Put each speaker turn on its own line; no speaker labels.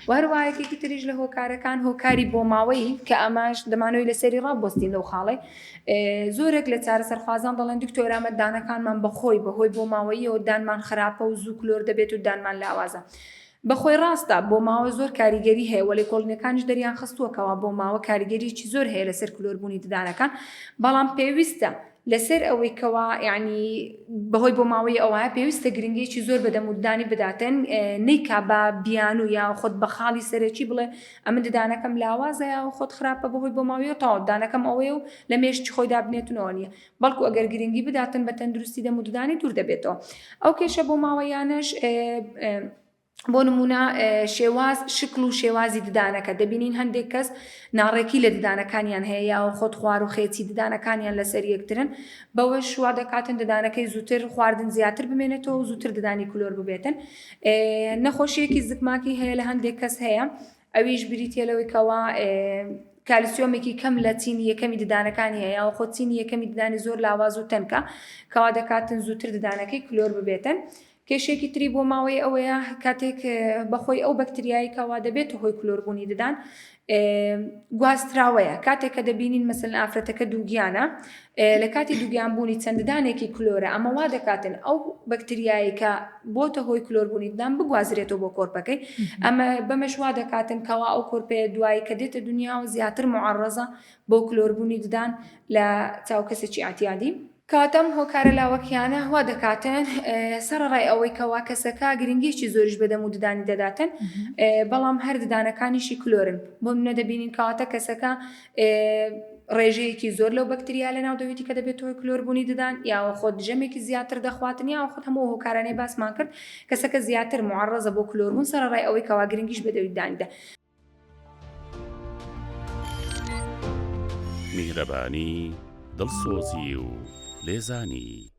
و هەروەها یەکێکی تریش لە هۆکارەکان هۆکاری بۆماوەیی کە ئەماش دەمانەوەی لەسەری ڕاببستین لەو خاڵێ زۆرێک لە چارە سەرخوازان دەڵێن دکتۆرامە دانەکانمان بەخۆی بەهۆی بۆماوەیەوە دانمان خراپە و زوو کلۆر دەبێت و دانمان لاوازە. بەخۆی ڕاستە بۆ ماوە زۆر کاریگەری هەیە وەلی کۆڵینەکانیش دەریان خستووە کەوا بۆ ماوە کاریگەریی زۆر هەیە لەسەر کلۆربوونی ددانەکان بەڵام پێویستە لەسەر ئەوەی کەوا یەعنی بەهۆی بۆ ماوەی ئەوە پێویستە گرنگیەکی زۆر بە دەمووددانی بداتن نیکا بە بیانوو یا خۆت بە خاڵی سەرەکی بڵێ ئەمن ددانەکەم لاوازە یا خۆت خراپە بەهۆی بۆ ماوەیە و تەواو دانەکەم ئەوەیە و لە مێشکی خۆی دابنێتنەوە نیە بەڵکو ئەگەر گرنگی بداتن بە تەندروستی دەمووددانی دوور دەبێتەوە ئەو کێشە بۆ ماوەیانەش بۆ نموونە شێواز شکل و شێوازی ددانەکە دەبینین هەندێک کەس ناڕێکی لە ددانەکانیان هەیە یا و خۆت خوار و خێچی ددانەکانیان لەسەر یەکترن بەوەش شوا دەکاتن ددانەکەی زووتر خواردن زیاتر بمێنێتەوە و زووتر ددانی کلۆر ببێتن نەخۆشیەکی زکماکی هەیە لە هەندێک کەس هەیە ئەویش بریتە لەوەی کەوا کالسیۆمێکی کەم لە چینی یەکەمی ددانەکانی هەیە و خۆچینی یەکەمی ددانی زۆر لاواز و تەنکە کەوا دەکاتن زووتر ددانەکەی کلۆر ببێتن کێشەیەکی تری بۆ ماوەیی ئەوەیە کاتێک بەخۆی ئەو بەکتریایی کەوا دەبێتە هۆی کلۆربوونی ددان گواستراوەیە کاتێک کە دەبینین مەسن ئافرەتەکە دووگیانە لە کاتی دووگیان بوونی چەنددانێکی کلۆرە ئەمە وا دەکاتن ئەو بەکتریایی کە بۆتە هۆی کلۆربوونی ددان بگوازرێتەوە بۆ کۆرپەکەی ئەمە بەمەش وا دەکاتن کەوا ئەو کۆرپەیە دوایی کە دێتە دنیا و زیاتر معڕزە بۆ کلۆربوونی ددان لە چاو کەسێکی ئاعتیادی کات ئەم هۆکارە لاوەکییانە وا دەکاتن سەڕەڕای ئەوەی کەوا کەسەکە گرنگییەکی زۆریش بە دەم و ددانی دەداتن بەڵام هەر ددانەکانیشی کلۆرن بۆ نمونە دەبینین کەواتە کەسەکە ڕێژەیەکی زۆر لەو بەکتریا لەناو دەوێتی کە دەبێت هۆی کلۆر بوونی ددان یاوە خۆت ژەمێکی زیاتر دەخواتن یاوە خۆت هەموو هۆکارانەی باسمان کرد کەسەکە زیاتر معڕەزە بۆ کلۆربوون سەرەڕای ئەوەی کەوا گرنگیش بە دەوی دانیدا
میهرەبانی، دڵسۆزی و لێزانی.